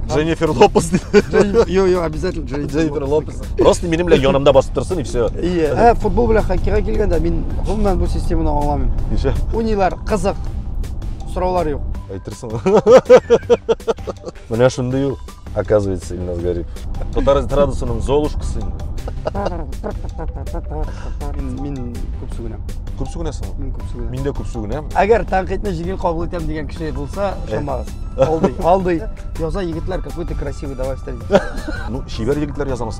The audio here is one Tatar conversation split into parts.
Дженнифер Лопес. Йо, йо, обязательно Дженнифер Лопес. Просто менің белән янымда басып тұрсын и все. Иә. Ә, футбол белән хоккейга килгәндә мин гомумән бу системаны аңламыйм. Ничә? Уйныйлар, кызык. Сораулар юк. Әйтерсең. Менә шундый ул. Оказывается, Ильназ Гарип. Татарыз Традусының Золушкасы. Мин, мин күп сүгенәм. Күп сүгенәсең? Мин күп сүгенәм. Мин дә күп сүгенәм. Әгәр тәнкыйтьне җиңел кабул итәм дигән кеше булса, ышанмагыз. Алдый, алдый. Яза егетләр какой-то красивый, давай встретимся. Ну, чибәр егетләр язамыз.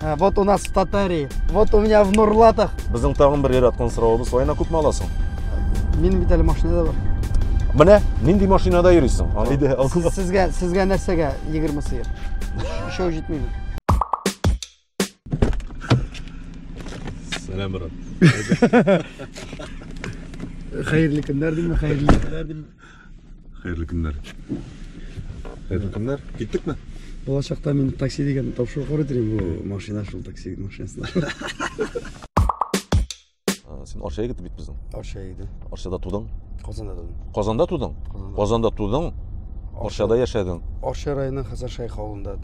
Ә, вот у нас в Татарии, вот у меня в Нурлатах. Безнең тагын бер яраткан соравыбыз, Айна күпме аласың? Минем бит әле машина да бар. Менә нинди машинада йөрисең? Әйдә, алсыз. Сезгә, сезгә нәрсәгә 20 сыер? Шоу җитмиме? Сәлам, брат. Хәерле көннәр димме, хәерле көннәр димме? Хәерле көннәр. Хәерле көннәр. Киттекме? Булачакта мин такси дигән тапшыру карый торыйм бу машина шул такси машинасына. Син Арча егете бит безнең. Арча егете. Арчада тудың? Казанда тудым. Казанда тудың? Казанда тудың. Арчада яшәдең. Арча районы Хәсән Шайх авылында.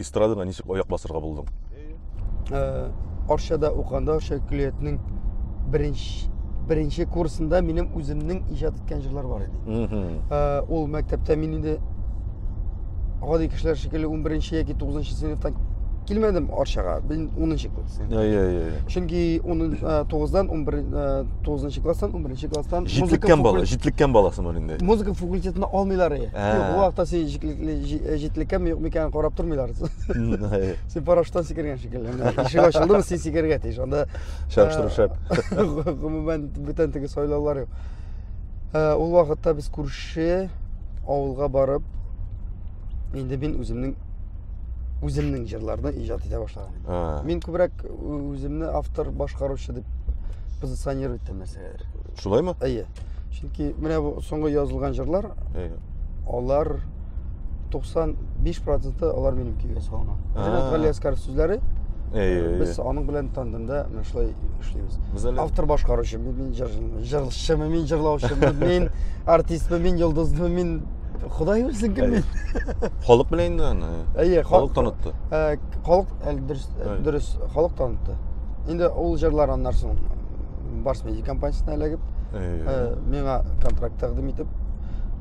эстрадага ничек аяк басырга булдың? Э, Арчада уканда Арча көллиятенең беренче беренче курсында минем үземнең иҗат иткән җырлар бар иде. Э, ул мәктәптә мин инде гади кешеләр шикелле 11 яки 9 сыйныфтан килмәдем Арчага. Мин 10 класс. Иә, иә, иә. Чөнки 9-дан 11 9 класстан 11 класстан җитлеккән бала, җитлеккән баласымын инде. Музыка факультетына алмыйлар. Юк, вакытта син Җитлекле, җитлеккә ми юкмы икәнен карап тормыйлар. Син парашюттан сикергән шикелле. Ишек ачылдымы, син сикергә тиеш. Анда чагыштыру шәп. Гомумән бүтән теге сайлаулар юк. Ул вакытта без күрше авылга барып, инде мин үземнең үземнең җырларны иҗат итә башладым. Мин күбрәк үземне автор, башкаручы дип позиционировать итәм нәрсәгәдер. Шулаймы? Әйе. Чөнки менә бу соңгы язылган җырлар, Әйе. алар 95% алар минем көйгә салынган. Ренат Гали Әскәров сүзләре. Әйе. Без аның белән тандемда менә шулай эшлибез. Автор башкаручы, мин җырчымы, мин җырлаучымы, мин артистмы, мин йолдызмы, мин Ходай белсен кем мин. Халык белән инде аны. Әйе, халык танытты. Халык дөрес, дөрес, халык танытты. Инде ул җырлар аннан соң барс медиа компаниясенә эләгеп э, миңа контракт тәкъдим итеп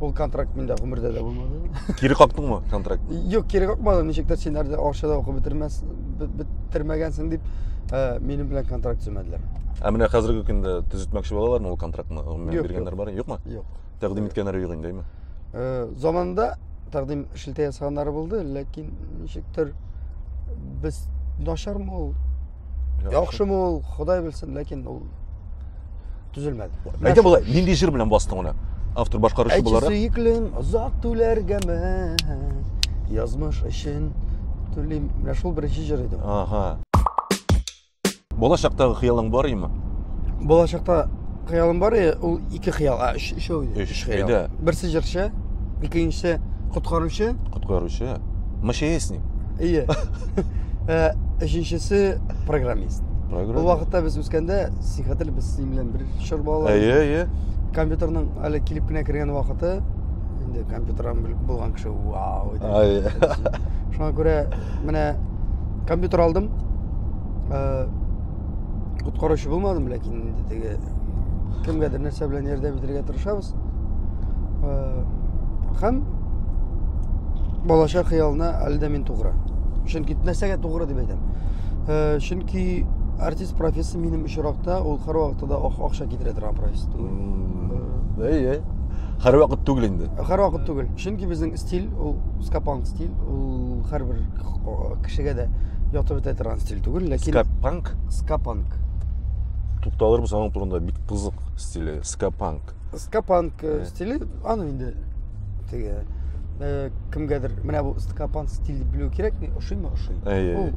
ул контракт миндә гомердә дә булмады кире кактыңмы контракт юк кире какмадым ничектер син әле акча да укып бетермәс бетермәгәнсең дип э, минем белән контракт төземәделәр ә менә хәзерге көндә төзетмәкче балалармы ул контрактны гомумән биргәннәр бар юкмы юк тәкъдим иткәннәре юк инде э, заманында тәкъдим шелтә ясаганнары булды ләкин ничектер без начармы ул яхшымы ул ходай белсен ләкин ул төзелмәде әйдә болай нинди җыр белән бастың аны автор башкаручы буларак әйтче сөеклем озак түләргәме язмыш өчен түлим менә шул беренче җыр иде ага болашактагы хыялың бар име болашакта Хыялым бар, э, ул ике хыял, а, өч, өчәү иде. Өч, хыял. әйдә. Берсе җырчы, икенчесе коткаручы, Коткаручы. МЧСник. ие. Э, Өченчесе программист. Ул Программа. вакытта без үскәндә, син хәтер без синең белән бер чор балалар. Әйе, әйе. Компьютерның әле килеп кенә кергән вакыты, инде компьютердан белеп булган кеше, вау, иде. Ай. Шуңа күрә менә компьютер алдым. Э, Коткаручы булмадым, ләкин инде теге кемгәдер нәрсә белән ярдәм итәргә тырышабыз. Э, һәм балачак хыялына әле дә мин тугры. Чөнки нәрсәгә тугры дип әйтәм. Э, чөнки артист профессиясе минем очракта ул һәрвакытта да акча китерә торган профессия түгел. Әйе. Һәрвакыт түгел инде. Һәрвакыт түгел. Чөнки безнең стиль ул скапанк стиль ул һәрбер кешегә дә ятып бетә торган стиль түгел ләкин скапанк скапанк тукталырбыз аның турында бик кызык стиле скапанк скапанк э, стиле аны инде теге э, кемгәдер менә бу скапанк стиль дип белү кирәкми ошыймы ошый ул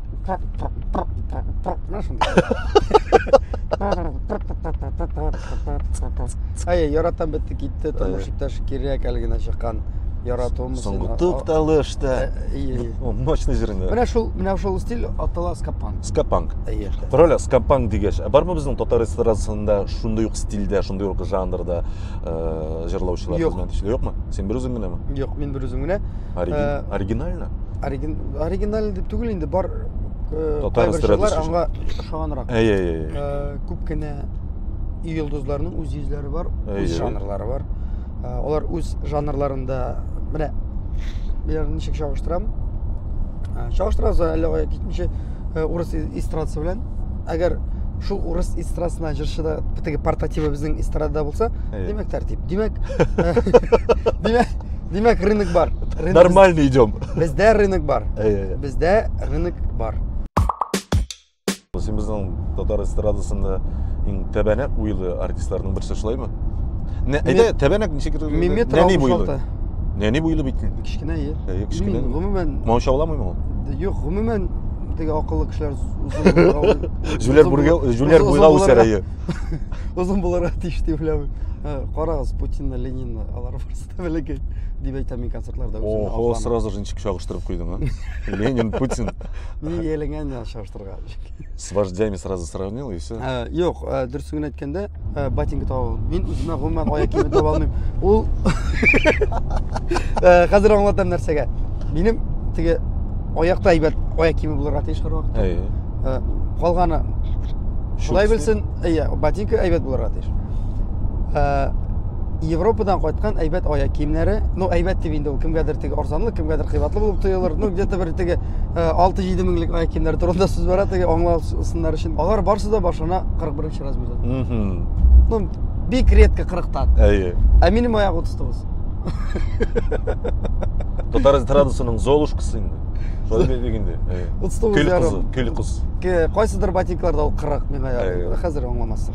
Әй, яратам бетте китте, тормыш иптәш кирәк әле генә чыккан яратуым. Соңгы тукталыш та. Мощный җырында. Менә шул, менә шул стиль атала скапанг. Скапанг. Әйе. Король скапанг дигәч, ә бармы безнең татар эстрадасында шундый ук стильдә, шундый ук жанрда җырлаучылар хезмәт эшли, юкмы? Син бер үзең генәме? Юк, мин бер үзем генә. Оригинально. оригинальный дип түгел инде бар э, татар эстрадасы аңа ошаганрак әй әй әй э, күп кенә йолдызларның үз йөзләре бар үз жанрлары бар э, алар үз жанрларында менә берәрен ничек чагыштырам чагыштырабыз әллә кая китмичә урыс эстрадасы белән әгәр шул урыс эстрадасына җырчы да теге портативы безнең эстрадада булса демәк тәртип демәк демәк Димәк, рынок бар. Рынок- Нормально идем. Бездә рынок бар. Әйе. Бездә рынок бар. Син безнең татар эстрадасында иң тәбәнәк буйлы артистларның берсе шулаймы? Не, әйдә, тәбәнәк ничек кирәк? Мин метр Нәни буйлы. 66. Нәни буйлы бит. Кечкенә е. Әйе, кечкенә. Мин гомумән Маушауламыймы ул? юк, гомумән теге акыллы кешеләр узын Җүләр бүргә, җүләр буйга үсәр әйе. Узын буларга тиеш дип уйлыйм. Карагыз, Путинны, Ленинны алар барсы. Тәбәләкәй. Дип әйтәм мин концертларда. Ого, сразу же ничек чагыштырып куйдың, а? Ленин, Путин. Мин ияләнгән дә чагыштырга. С вождями сразу сравнил и все. Э, юк, э, дөресен генә әйткәндә, э, ботинка таба Мин үземә гомумән аяк киеме таба алмыйм. Ул Хәзер аңлатам нәрсәгә. Минем теге аякта әйбәт аяк киеме булырга тиеш һәрвакытта. Калганы Шулай белсен, әйе, ботинка әйбәт булырга тиеш. Европадан кайткан әйбәт аяк киемнәре, ну әйбәт дип инде ул кемгәдер теге арзанлы, кемгәдер кыйбатлы булып тоелыр. Ну где-то бер теге 6-7 э, меңлек аяк киемнәре турында сүз бара, теге аңласыннар өчен. Алар барсы да башына 41 размерда. Ну бик редко 40-тан. Әйе. Ә минем аяк 39. Татар эстрадасының Золушкасы инде. Шулай дигәндә. Утыз тугыз Көл кызы, көл кыз. Кайсыдыр ботинкаларда ул 40 миңа ярый. Хәзер аңламассың.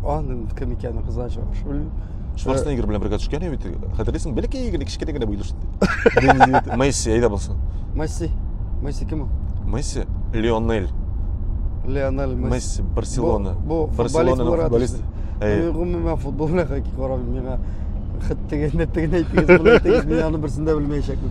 Аның кем икәнен кызганчы белмим. Шварценеггер белән бергә төшкән бит. Хәтерлисең, бәләкәй генә кечкенә генә буйлы шул. Месси әйдә булсын. Месси. Месси кем ул? Месси Лионель. Лионель Месси. Месси Барселона. Бу Барселона футболист. Мин гомумән футбол белән карамыйм. Миңа хит дигән, нет дигән әйтегез, булайтыгыз, мин аны берсен дә белмәячәкмен.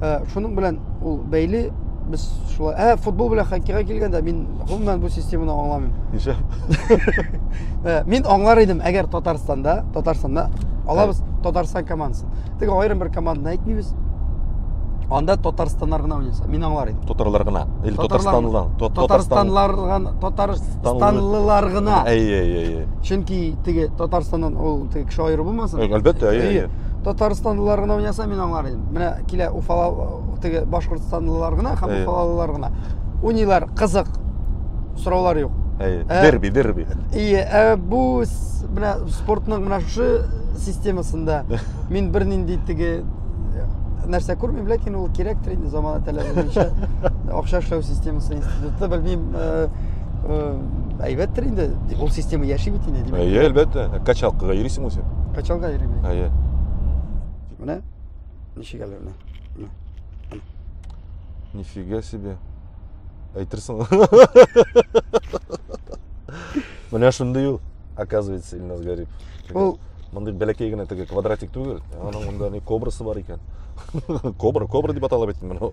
Ә, шуның белән ул бәйле без шулай ә футбол белән хоккейга килгәндә мин гомумән бу системаны аңламыйм ничә ә, мин аңлар идем әгәр татарстанда татарстанда алабыз татарстан командасын тик аерым бер команданы әйтмибез анда татарстаннар гына уйнаса мин аңлар идем татарлар гына или татарстанлылар татарстанлар гына татарстанлылар гына әйе әйе әйе чөнки теге татарстаннан ул теге кеше аеры булмасын әлбәттә әйе татарстанлылар гына уйнаса мин аңлар менә килә уфала теге башкортстанлылар гына һәм уфалалылар гына уйныйлар кызык сораулар юк ә, дерби дерби ие ә бу менә спортның менә шушы системасында мин бернинди теге нәрсә күрмим ләкин ул кирәктер инде замана таләбе буенча акча эшләү системасы институты белмим әйбәттер инде ул система яши бит инде әйе әлбәттә качалкага йөрисең үзең качалга йөрим әйе Менә ничек әле менә. Менә. Нифига себе. Әйтерсең. Менә шундый ул, оказывается, Илназ Гарип. Ул мондый бәләкәй генә теге квадратик түгел. Аның монда ни кобрасы бар икән. Кобра, кобра дип атала бит менә.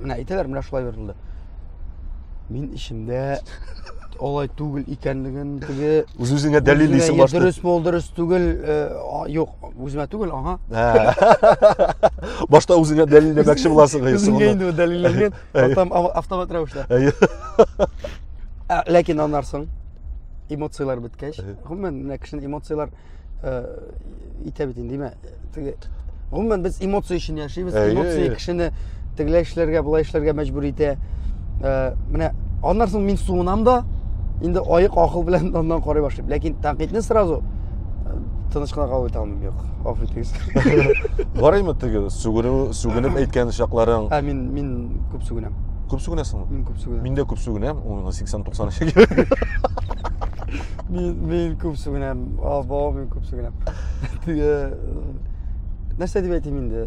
Менә әйтәләр, менә шулай бирелде. Мин эчемдә алай түгел икәнлеген теге үз үзеңә дәлиллисең башта. Дөрес мол, дөрес түгел, э, юк, үземә түгел, ага. Башта үзеңә дәлилләмәкче буласың гыйс. Үзеңә инде дәлилләнгән, потом автомат рәвештә. Ләкин аннарсың эмоцияләр беткәч, гомумән, менә кешенең эмоцияләр итә бит инде димә теге гомумән без эмоция өчен яшибез эмоция кешене тегеләй эшләргә болай эшләргә мәҗбүр итә менә аннан соң мин суынам да инде аек акыл белән аннан карый башлыйм ләкин тәнкыйтьне сразу тыныч кына кабул итә алмыйм юк гафу итегез барыймы теге сүгенү сүгенеп әйткән чакларың ә мин мин күп сүгенәм күп сүгенәсеңме мин күп сүгенәм мин дә күп сүгенәм ул миңа сиксән туксан Мин, мин күп сүгенәм, Албау, мин күп сүгенәм. Нәрсә дип әйтим инде?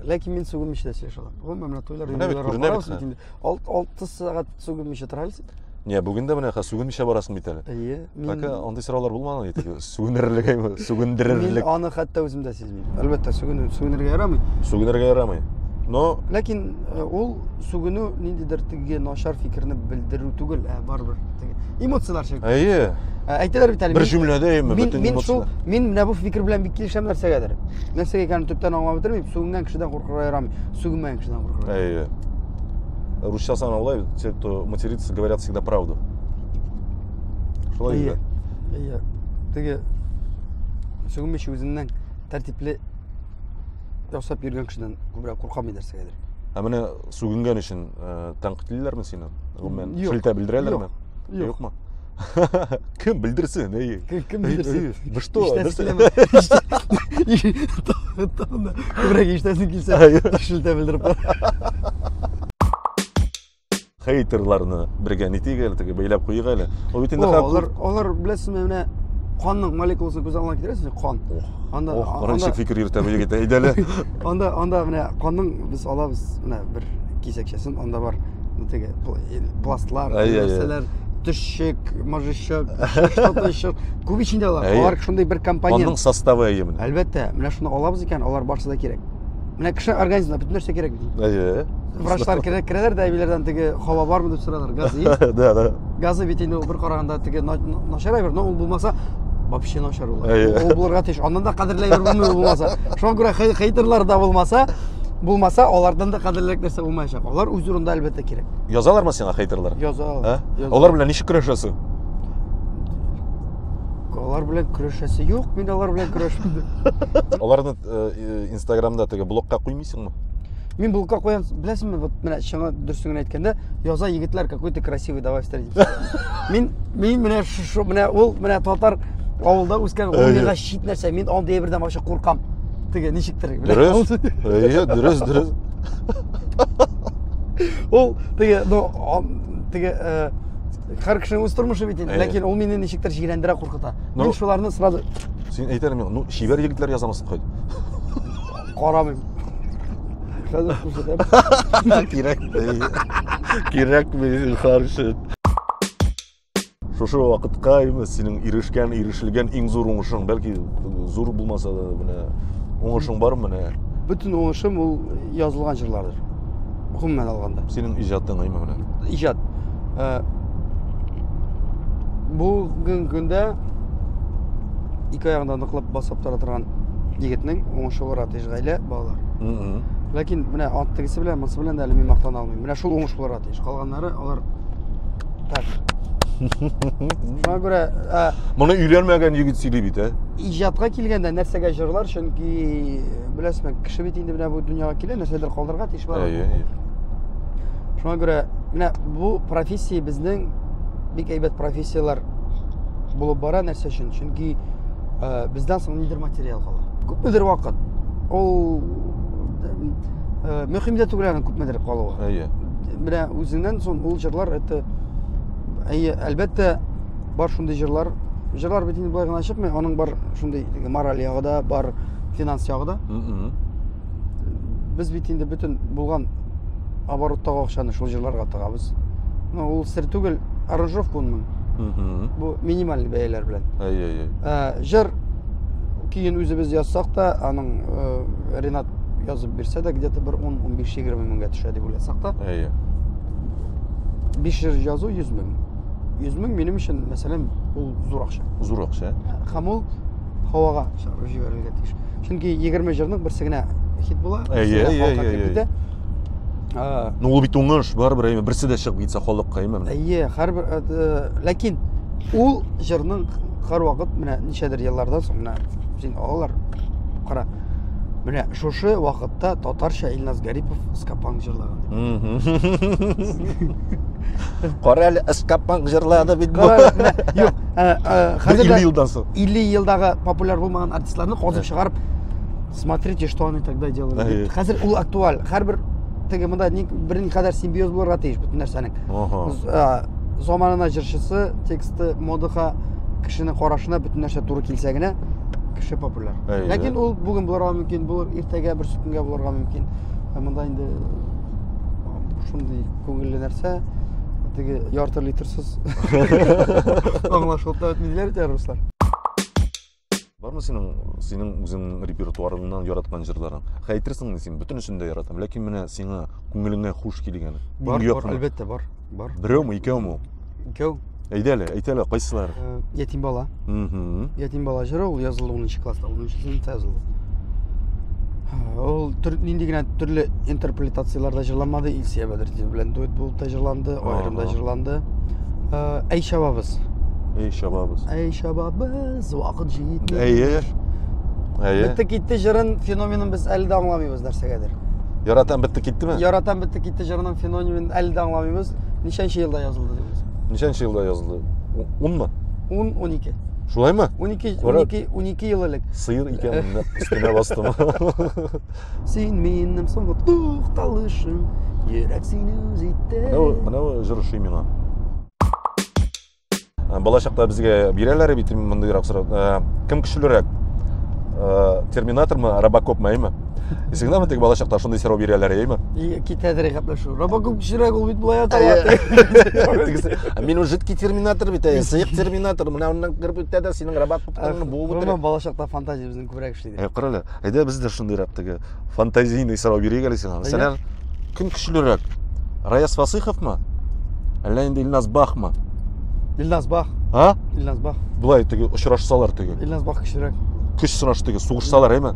Ләкин мин сүгенмичә дә сөйләшә алам. Гомумән, менә туйлар, дөньялар барабыз бит инде. 6 сәгать сүгенмичә тора аласың. Не, бүген дә менә сүгенмичә барасың бит әле. Әйе. Так, андый сораулар булмаган иде. Сүгенерлек, сүгендерерлек. Мин аны хәтта үзем дә Әлбәттә, сүгенү, сүгенергә ярамый. Сүгенергә ярамый. Но ләкин э, ул сүгенү ниндидер теге начар фикерне белдерү түгел, ә барыбер теге эмоцияләр шикелле. Әйе. Ә, әйтәләр бит әле. Бер җөмләдә әйме бөтен мин, шул, мин менә бу фикер белән бик килешәм нәрсәгәдер. Нәрсәгә икәнен төптән аңлап бетермим, сүгенгән кешедән куркырга ярамый, сүгенмәгән кешедән куркырга. Әйе. Русча сан алай, те, кто матерится, говорят всегда правду. Шулай. Әйе. Әйе. Теге Сүгем өчен үзеннән тәртипле ясап йөргән кешедән күбрәк куркам дидерсегәдер. Ә менә сүгенгән өчен э, тәнкыйтьлиләрме сине? Гомумән, шелтә белдерәләрме? Юкмы? Кем белдерсен, әй. Кем белдерсен? Вы что? Күбрәк иштәсең килсә, шелтә белдереп. хейтерларны бергә нитик әле теге бәйләп куйыйк әле ул бит инде алар алар беләсезме менә канның молекуласын күз алдына китерәсез кан анда кара ничек фикер йөртә бу егет әйдә әле анда анда менә канның без алабыз менә бер кисәкчәсен анда бар теге пластлар нәрсәләр төшчек мыжычык что-то еще күп ичендә алар алар шундый бер компонент канның составы әйе менә әлбәттә менә шуны алабыз икән алар барысы да кирәк Менә кеше организмына бөтен нәрсә кирәк бит. Әйе. Врачлар керә, керәләр дә әбиләрдән теге һава бармы дип соралар. Газы. Да, да. Газы бит инде бер караганда теге начарай бер, но ул булмаса вообще начар ул. Ул булырга тиеш. Аннан да кадерләй бер булмый булмаса. Шуңа күрә хейтерлар да булмаса, булмаса, алардан да кадерлерәк нәрсә булмаячак. Алар үз урында әлбәттә кирәк. Язалармы сиңа хейтерлар? Язалар. Алар белән ничек көрәшәсең? Алар белән көрәшәсе юк, мин алар белән көрәшмим. Аларны э, инстаграмда теге блокка куймыйсыңмы Мин блокка куям беләсеңме вот менә чыңа дөресен генә әйткәндә яза егетләр какой ты красивый давай встретимся мин мин менә шушы менә ул менә татар авылда үскән ул миңа чит нәрсә мин андый әйбердән вообще куркам теге ничектер дөрес әйе дөрес дөрес ул теге ну теге э, Хәр кешенең үз тормышы бит инде, ләкин ул мине ничектер җирәндерә, куркыта. Мин шуларны сразу Син әйтәле миңа, ну, чибәр егетләр язамысың кайт. Карамыйм. Хәзер күрсәтәм. Кирәк. Кирәк мин харшы. Шушы вакытка именно синең ирешкән, ирешелгән иң зур уңышың, бәлки зур булмаса да, менә уңышың бар менә. Бөтен уңышым ул язылган җырлардыр. Гомумән алганда. Синең иҗатың әйме менә. Иҗат. Э, Бүгенге көндә ике аягында ныклап басып тора торган егетнең уңышы бар атыш гаилә, балалар. Ләкин менә ат тегесе белән, монысы белән дә әле мин мактана алмыйм. Менә шул уңыш булыр атыш. Калганнары алар так. Шуңа күрә, ә, Моны өйләнмәгән егет сөйли бит, ә? Иҗатка килгәндә нәрсәгә җырлар Чөнки беләсме, кеше бит инде менә бу дөньяга килә, нәрсәдер калдырырга тиеш бар. Әйе, әйе. Шуңа күрә менә бу профессия безнең бик әйбәт профессияләр булып бара нәрсә өчен? Чөнки э, бездән соң нидер материал кала. Күпмедер вакыт ул э, мөһим дә түгел аның күпмедер калуы. Әйе. Менә үзеннән соң ул җырлар это әйе, әлбәттә Бар шундый җырлар. Җырлар бит инде болай гына чыкмый, аның бар шундый мораль ягы да, бар финанс ягы да. Без бит инде бөтен булган обороттагы акчаны шул җырларга тыгабыз. Ну, ул сер түгел, аранжировка унмын. Бу минималь бәяләр белән. Әй-әй-әй. Ә, җыр көен үзебез язсак та, аның э, Ренат язып бирсә дә, где-то бер 10-15-20 меңгә төшә дип уйласак та. Әйе. 5 җыр язу 100 мең. 100 мең минем өчен, мәсәлән, ул зур акча. Зур акча. Һәм ул һавага чыгарып җибәрергә тиеш. Чөнки 20 җырның берсе генә хит була. Әйе, әйе, әйе. Ну, ул бит уңыш, барыбер, әйе, берсе дә чыгып китсә халыкка, әйе. Әйе, һәрбер э, э, ләкин ул җырның һәрвакыт менә ничәдер еллардан соң менә син алалар. Кара. Менә шушы вакытта татарча Илназ Гарипов Скапан җырлаган. Кара әле Скапман җырлады бит бу. Юк, хәзер 50 елдан соң. 50 елдагы популяр булмаган артистларны казып чыгарып смотрите, что они тогда делали. Хәзер ул актуаль. Һәрбер теге монда бер никадәр симбиоз булырга тиеш бөтен нәрсәнең. Заманына җырчысы, тексты, модага, кешенең карашына бөтен нәрсә туры килсә генә кеше популяр. Ләкин ул бүген булырга мөмкин, булыр иртәгә бер сүкенгә булырга мөмкин. Монда инде шундый күңелле нәрсә теге ярты литрсыз аңлашылып та бетми диләр бит руслар бармы синең синең үзеңнең репертуарыңнан яраткан җырларың әйтерсең син бөтенесен дә яратам ләкин менә сиңа күңелеңә хуш килгән бар бар әлбәттә бар бар берәүме икәүме ул Икәү. Әйдә әле, әйт әле, кайсылары? Э, Ятим бала. Мгм. Ятим бала җыры ул язылды 10 класста, 10 сыйныфта язылды. Һә, Ул төр, нинди генә төрле интерпретацияләрдә җырланмады. Илсия Бәдертдин белән дуэт булып та җырланды, аерым да Ага. җырланды. Э, Әй шабабыз. Эй, шабабыз. Әй шабабыз, вакыт җитми. Әйе. Әйе. Бетте китте җырын, феноменын без әле дә аңламыйбыз нәрсәгәдер. Яратам бетте киттеме? Яратам бетте китте җырының феноменын әле дә аңламыйбыз. Ничәнче елда язылды дигез? Ничәнче елда язылды? 10мы? 10, 12. Шулаймы? 12, 12, 12 ел элек. Сыер икәнен өстенә бастым. Син минем соңгы тукталышым, йөрәк сине үз итте. Менә менә җыр шуй миңа. бала чакта безгә бирәләр бит мондыйрак сорау кем көчлерәк терминатормы робокопмы әйме исеңдәме теге бала чакта шундый сорау бирәләр әйме китәдер гәпләшү робокоп көчлерәк ул бит болай атала мин уже жидкий терминатор бит сыек терминатор менә моннан кереп үтә дә синең робокоптың буып үтә бала чакта фантазия безнең күбрәк Ә кара әле, әйдә без дә шундыйрак теге фантазийный сорау бирик әле сиңа. Мәсәлән, кем көчлерәк? Раяз Фасыйховмы? Әллә инде Илназ Бахмы? Илназ Бах. А? Илназ Бах. Булай теге очрашсалар теге. Илназ Бах көчлерәк. Көч сынаш теге, сугышсалар, әйме?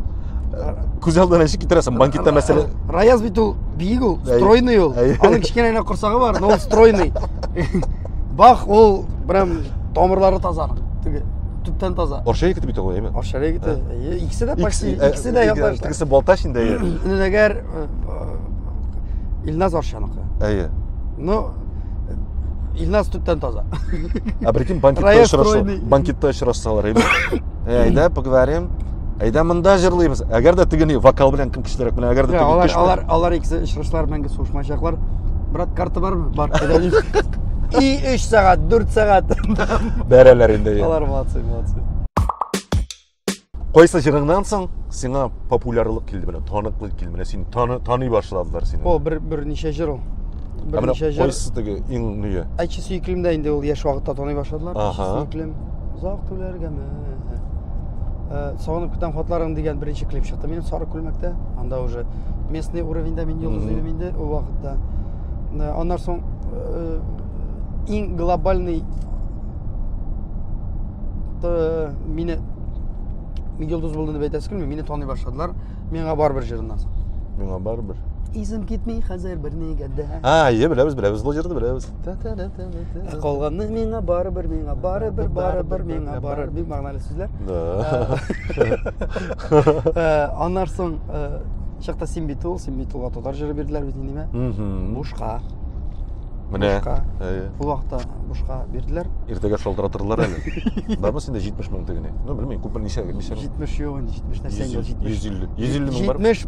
Күз алдына ничек китерәсең? Банкетта мәсәлә. Раяз бит ул биек ул, стройный ул. Аның кечкенә генә корсагы бар, но ул стройный. Бах ул прям тамырлары таза. Теге төптән таза. Орча егете бит ул, әйме? Орча егете. Э, икесе дә почти, э, икесе дә яклаштар. Тегесе Балтач инде. Инде әгәр э, Илназ Орчаныкы. Әйе. Ну, Илназ төптән таза. А прикинь, банкетта очрашсалар. Банкетта очрашсалар, әйме? Әйдә, поговорим. Әйдә монда җырлыйбыз. Әгәр дә тегене вокал белән кем көчлерәк белән, әгәр дә тегене алар, көчле. Алар, алар икесе очрашлар мәңге сугышмаячаклар. Брат, карта бармы? Бар. И 3 сәгать, 4 сәгать. Бәрәләр инде. Алар молодцы, молодцы. Кайсы җырыңнан соң сиңа популярлык килде белән, таныклык килде белән, син таны таны башладылар сине. О, бер бер ничә җыр ул. Бер ничә җыр. Кайсы теге иң ние? Әче сөеклемдә инде ул яшь вакытта таный башладылар. Ага. Сөеклем. Узак түләргәме? Э, сагынып көтәм хатларың дигән беренче клип чыкты минем сары күлмәктә анда уже местный уровеньда мин йолдыз идем инде ул вакытта э, аннан соң э, иң глобальный мине мин йолдыз булдым дип әйтәсе килми мине таный башладылар миңа барыбер җырыннан соң миңа барыбер Изим китми хәзер бер нигә дә. А, е, беләбез, беләбез, бу җырны беләбез. Ә калганны миңа барыбер, миңа барыбер, барыбер, миңа барыбер. Бик мәгънәле сүзләр. Да. Э, аннар соң э, чакта син бит ул, син бит ул татар җыры бирделәр бит инде миңа. Бушка. Менә. Бушка. Ул вакытта бушка бирделәр. Иртәгә шалтыратырлар әле. Бармы синдә 70 мең тегене? Ну, белмим, күп мең ничә, ничә? 70 юк инде, 70 нәрсә инде 70. 150. 150 мең бар. 70.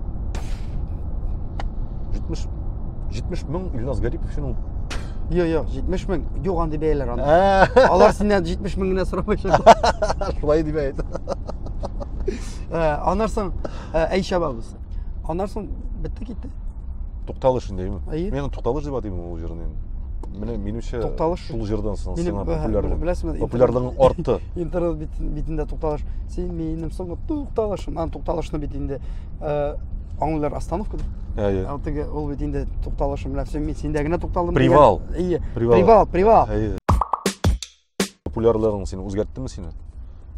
70 70 мең Илназ Гарипов өчен ул. Йо, йо, 70 мең. Юк, андый бәяләр анда. Ә, Алар синнән 70 мең генә сорамаячак. Шулай дип әйт. Ә, Аннан соң ә, әй чабабыз. Аннан соң бетте китте. Тукталыш индеме? Әйе. Мен тукталыш дип атыйм ул җырны инде. Менә минемчә Тукталыш. шул җырдан соң Минем, сиңа ә, популярлык. беләсеңме, Популярлыгың артты. Интернет бит- битендә тукталыш. Син минем соңгы тукталышым. Ан тукталышны бит инде. Ә, аңлыйлар остановка дип әйе ә, теге ул бит инде тукталышы белән все мин синдә генә тукталдым привал әйе привал привал әйе популярлыгың сине үзгәрттеме сине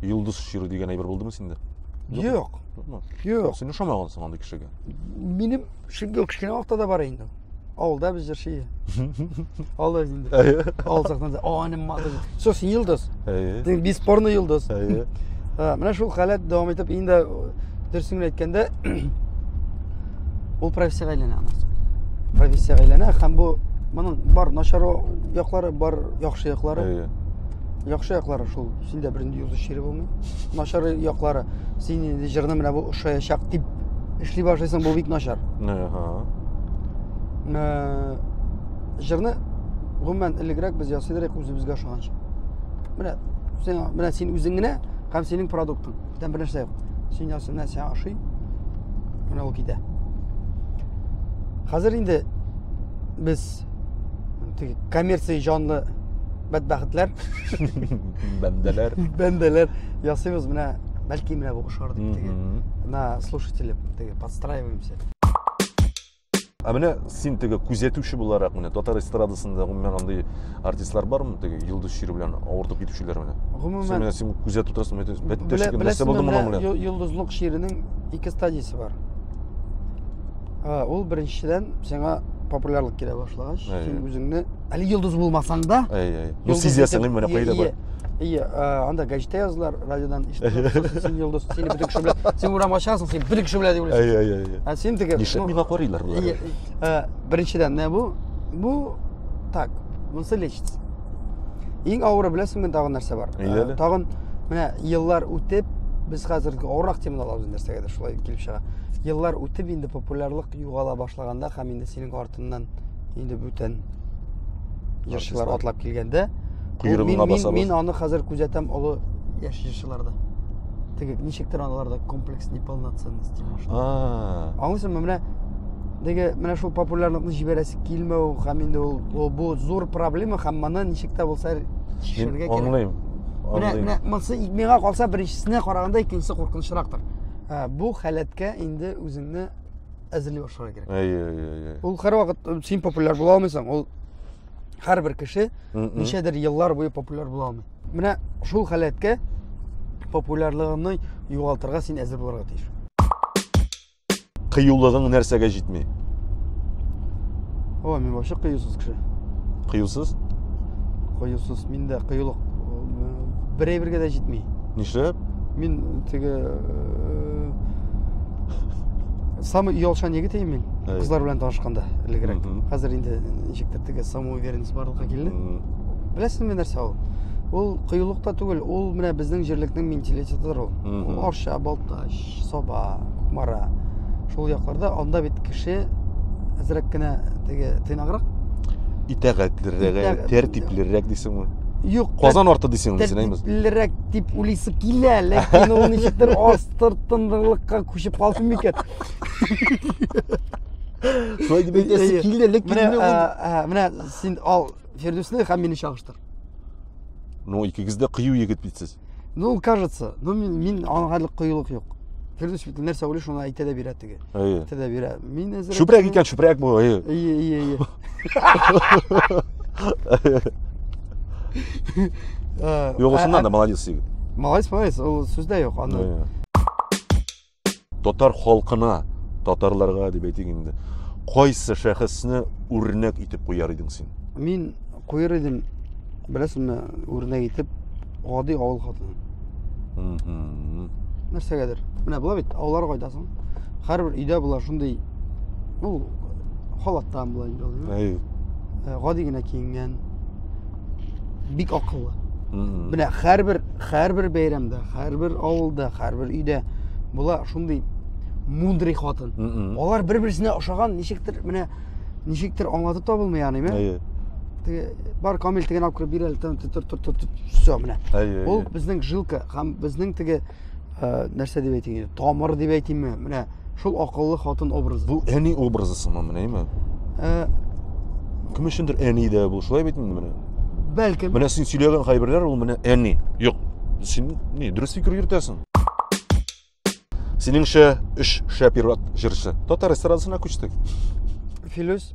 йолдыз чирү дигән әйбер булдымы синдә юк юк син ошамагансың андый кешегә минем шундый ук кечкенә вакытта да бар инде Авылда без җырчы. Алар инде. Авыл сахнасында. О, не мадыр. Сос йылдыз. Дин беспорны йылдыз. Менә шул халәт дәвам итеп инде дөресен генә әйткәндә ул профессиягә әйләнә аны. Профессиягә әйләнә һәм бу моның бар начар яклары, бар яхшы яклары. Яхшы яклары шул. Син дә бернинди язучы чире булмый. Начар яклары. Син инде җырны менә бу ошаячак дип эшли башлыйсың, бу бик начар. Ага. Э, җырны гомумән элегрәк без ясыйлар идек үзебезгә ошаганча. Менә син менә син үзең генә һәм синең продуктың. Бүтән бер нәрсә юк. Син ясый, менә сиңа ошый. Менә ул китә. Хәзер инде без теге коммерция җанлы бәдбәхетләр бәндәләр бәндәләр ясыйбыз менә бәлки менә бу ошар дип теге на слушатели теге подстраиваемся ә менә син теге күзәтүче буларак менә татар эстрадасында гомумән андый артистлар бармы теге йолдыз чире белән авыртып китүчеләр менә гомумән син менә син күзәтеп торасың бәттәш нәрсә булды моның белән йолдызлык чиренең ике стадиясе бар А, ул беренчедән сиңа популярлык килә башлагач, Әйе. син үзеңне әле йолдыз булмасаң да, Әй, әй. Ну, йолдыз сизәсең, итеп- менә Ие, кайда ие, бар. Ие, а, анда гәҗиттә язылар, радиодан ишетелә, сосын син йолдыз, сине бөтен кеше белә. Син урамга чыгасың, син бөтен кеше белә дип уйлыйсың. Әй, әй, әй. Ә син теге Нишләп ну, миңа карыйлар болар? ие, ә, беренчедән, менә бу бу так, монысы лечится. Иң авыры беләсеңме тагын нәрсә бар? Ә, тагын менә еллар үтеп без хәзер авырак теманы алабыз нәрсәгәдер шулай килеп чыга. Еллар үтеп инде популярлык югала башлаганда һәм инде синең артыннан инде бүтән җырчылар атлап килгәндә, мин, мин, мин аны хәзер күзәтәм олы яшь җырчыларда. теге ничектер аларда комплекс неполноценности может аңлыйсыңмы менә теге менә шул популярлыкны җибәрәсе килмәү һәм инде ул ул бу зур проблема һәм моны ничек тә булса чишәргә кирәк аңлыйм менә менә монысы миңа калса беренчесенә караганда икенчесе куркынычрактыр ә, бу халәткә инде үзеңне әзерли башларга кирәк әйе әйе ул һәрвакыт син популяр була алмыйсың ул һәрбер кеше ничәдер еллар буе популяр була алмый Менә шул халәткә популярлыгыңны югалтырга син әзер булырга тиеш. Кыюлыгың нәрсәгә җитми? О, мин вообще кыюсыз кеше. Кыюсыз? Кыюсыз. Мин дә кыюлык берәй бергә дә җитми. Нишләп? Мин теге э, самый оялшан егет мин. Кызлар белән танышканда элегрәк. Хәзер инде ничектер теге Кому уверенность барлыкка килде. Беләсезме нәрсә ул? Ул кыюлыкта түгел, ул менә безнең җирлекнең менталитетыдыр ул. Ул Арча, Балтач, Саба, Кукмара. Шул якларда анда бит кеше әзрәк кенә теге тыйнаграк. Итәгатьлерәк, тәртиплерәк дисеңме? Юк. Казан арты дисеңме, сенәймез? Тәртиплерәк дип уйлыйсы килә, ләкин ул ничектер астыртындылыкка күчеп калсын микән? Шулай дип әйтәсе килде, лек килде. Менә, ә, менә син ал Фирдүсне һәм мине чагыштыр. Ну, икегез дә кыю егет бит сез. Ну, кажется, ну мин, мин аңа әле кыюлык юк. Фирдүс бит нәрсә уйлый, шуны әйтә дә бирә теге. Әйе. Әйтә дә бирә. Мин әзер. Чүпрәк икән, чүпрәк бу, әйе. Әйе, әйе, әйе. Югысыннан да молодец егет. Молодец, молодец, ул сүздә юк, анда. Татар халкына, татарларга дип әйтик инде, кайсы шәхесне үрнәк итеп куяр идең син? Мин куер идем, беләсеңме, үрнәк итеп гади авыл хатыны. Нәрсәгәдер. Менә була бит, авыллар кайтасың. Һәрбер өйдә була шундый ул халаттан була инде. Гади генә киенгән, бик акыллы менә һәрбер һәрбер бәйрәмдә һәрбер авылда һәрбер өйдә була шундый мудрый хатын алар бер берсенә ошаган ничектер менә ничектер аңлатып та булмый яныйм ә теге бар камил теген алып кереп бир әле тор тор тор все менә ул безнең жилка һәм безнең теге ә, нәрсә дип әйтим инде тамыр дип әйтимме менә шул акыллы хатын образы бу әни образы сымы менәме ә, кем өчендер әни дә бул шулай бит инде менә бәлкем менә син сөйләгән кайберләр ул менә әни юк син не дөрес фикер йөртәсең синеңчә өч шәп ир-ат җырчы татар эстрадасына күчтек филүс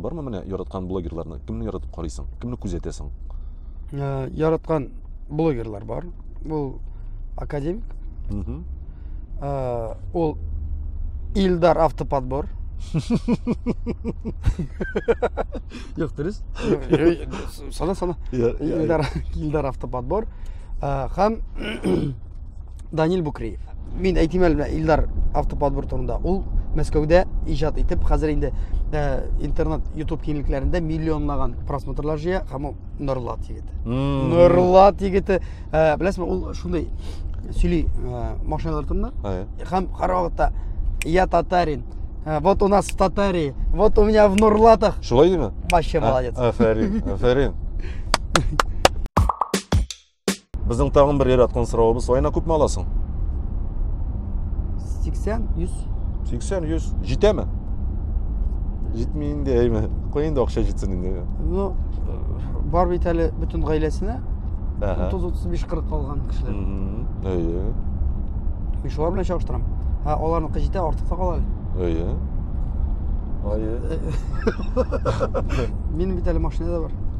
Бармы менә яраткан блогерларны? Кемне яратып карыйсың? Кемне күзәтәсең? Ә, яраткан блогерлар бар. Бу академик. Угу. Ә, ул Илдар автоподбор. Юк, дөрес. Сана, сана. Илдар, Илдар автоподбор. Һәм Данил Букреев. Мин әйтим әле Илдар автоподбор турында. Ул Мәскәүдә иҗат итеп, хәзер инде э, интернет, YouTube киңлекләрендә миллионлаган просмотрлар җыя, һәм ул Норлат егете. Норлат егете, э, беләсезме, ул шундый сөйли э, машиналар турында. Һәм һәрвакытта я татарин, Э, вот у нас в Татарии, вот у меня в Нурлатах. Шулай Вообще а, молодец. Аферин, аферин. Безнең тагын бер яраткан соравыбыз, айына күпме аласың? 80, 100. 80, 100. Җитәме? Җитми инде, әйме. Кой инде акча җитсен инде. Ну, бар бит әле бөтен гаиләсенә. 30-35-40 калган кешеләр. Әйе. Мин шулар белән чагыштырам. Һә, аларныкы җитә, артык та кала әле. Әйе. Әйе. Минем бит әле машина да бар.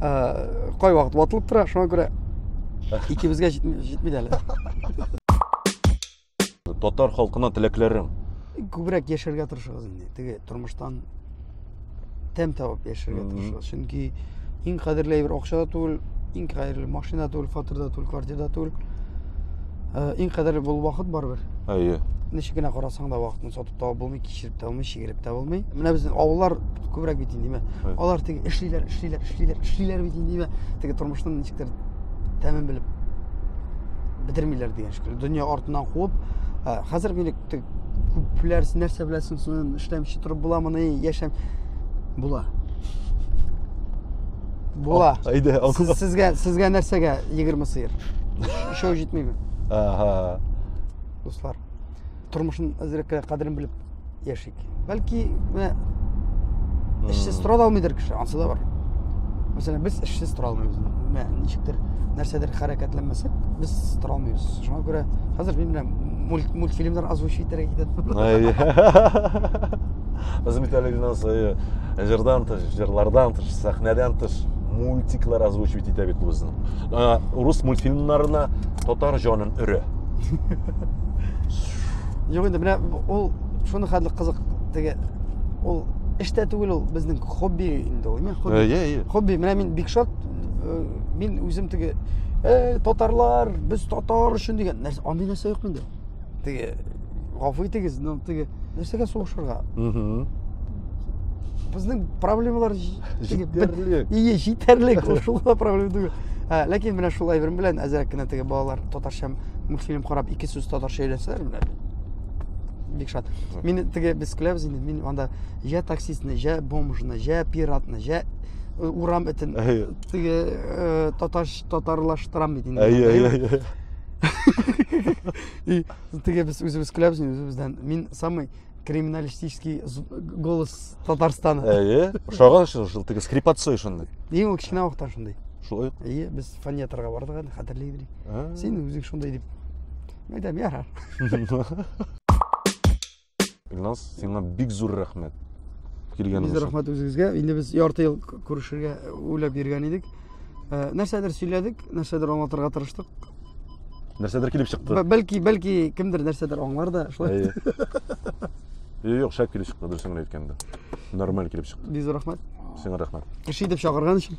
кайвакыт ватылып тора шуңа күрә икебезгә җитми дә әле татар халкына теләкләрең күбрәк яшәргә тырышыгыз инде теге тормыштан тәм табып яшәргә тырышыгыз чөнки иң кадерле әйбер акча да түгел иң кадерле машина түгел фатир да түгел квартира да түгел иң кадерле бул вакыт барыбер әйе ничек кенә карасаң да вакытны сатып Табып булмый, кичереп тә булмый, чигереп тә булмый. Менә безнең авыллар күбрәк бит инде, димә. Алар теге эшлиләр, эшлиләр, эшлиләр, эшлиләр бит инде, димә. Теге тормышның ничектер тәмен белеп бетермиләр дигән шикелле. Дөнья артыннан куып, хәзер мине күпләр нәрсә беләсең, соң эшләмичә торып буламыни, яшәм була. Була. Әйдә, Сез, сезгә сезгә нәрсәгә 20 сыер? Шоу җитмиме? Ага. Дуслар. тормышын әзрәк кенә кадерен белеп яшик. Бәлки менә эшсез тора да алмыйдыр кеше, ансы да бар. Мәсәлән, без эшсез тора алмыйбыз. Менә ничектер нәрсәдер хәрәкәтләнмәсәк, без тора алмыйбыз. Шуңа күрә хәзер мин белән мульт, мультфильмнар озвучи итәргә китәм. Без бит әле генә сая җырдан тыш, җырлардан тыш, сәхнәдән тыш мультиклар озвучивать итә бит үзен. Рус мультфильмнарына татар җанын өрә. Юк инде, менә ул шуны хәтле кызык теге ул эштә түгел ул безнең хобби инде ул. Хобби. Э, э, э. Хобби. Менә мин бик шат. Мин үзем теге э татарлар, без татар өчен дигән нәрсә, андый нәрсә юк инде. Теге гафу итегез, но теге нәрсәгә сугышырга? Угу. Безнең проблемалар җитәрлек. Ие, җитәрлек. Шул проблема түгел. Ләкин менә шул әйберем белән әзрәк кенә теге балалар татарча мультфильм карап ике сүз татарча өйрәнсәләр менә бик шат мин теге без көләбез инде мин анда я таксистны я бомжны я пиратны я э, урам этен теге э, татарш татарлаштырам бит инде әйе әйе әйе теге без үзебез көләбез үзебездән мин самый криминалистический голос татарстана әйе ошаган шул шул теге скрипацой шундый ең ул кечкенә вакыттан шундый шулай әйе без фониаторга бардык әле хәтерли идек син үзең шундый дип мен айтам ярар илназ сиңа бик зур рәхмәт килгәнегез өчен рәхмәт үзегезгә инде без ярты ел күрешергә уйлап йөргән идек Э, нәрсәдер сөйләдек, нәрсәдер аңлатырга тырыштык. Нәрсәдер килеп чыкты. Бәлки, бәлки кемдер нәрсәдер аңлар да, шулай. Юк, шәп килеп чыкты, дөресен генә әйткәндә. Нормаль килеп чыкты. Бизу рәхмәт. Сиңа рәхмәт. Кеше итеп чакырган өчен.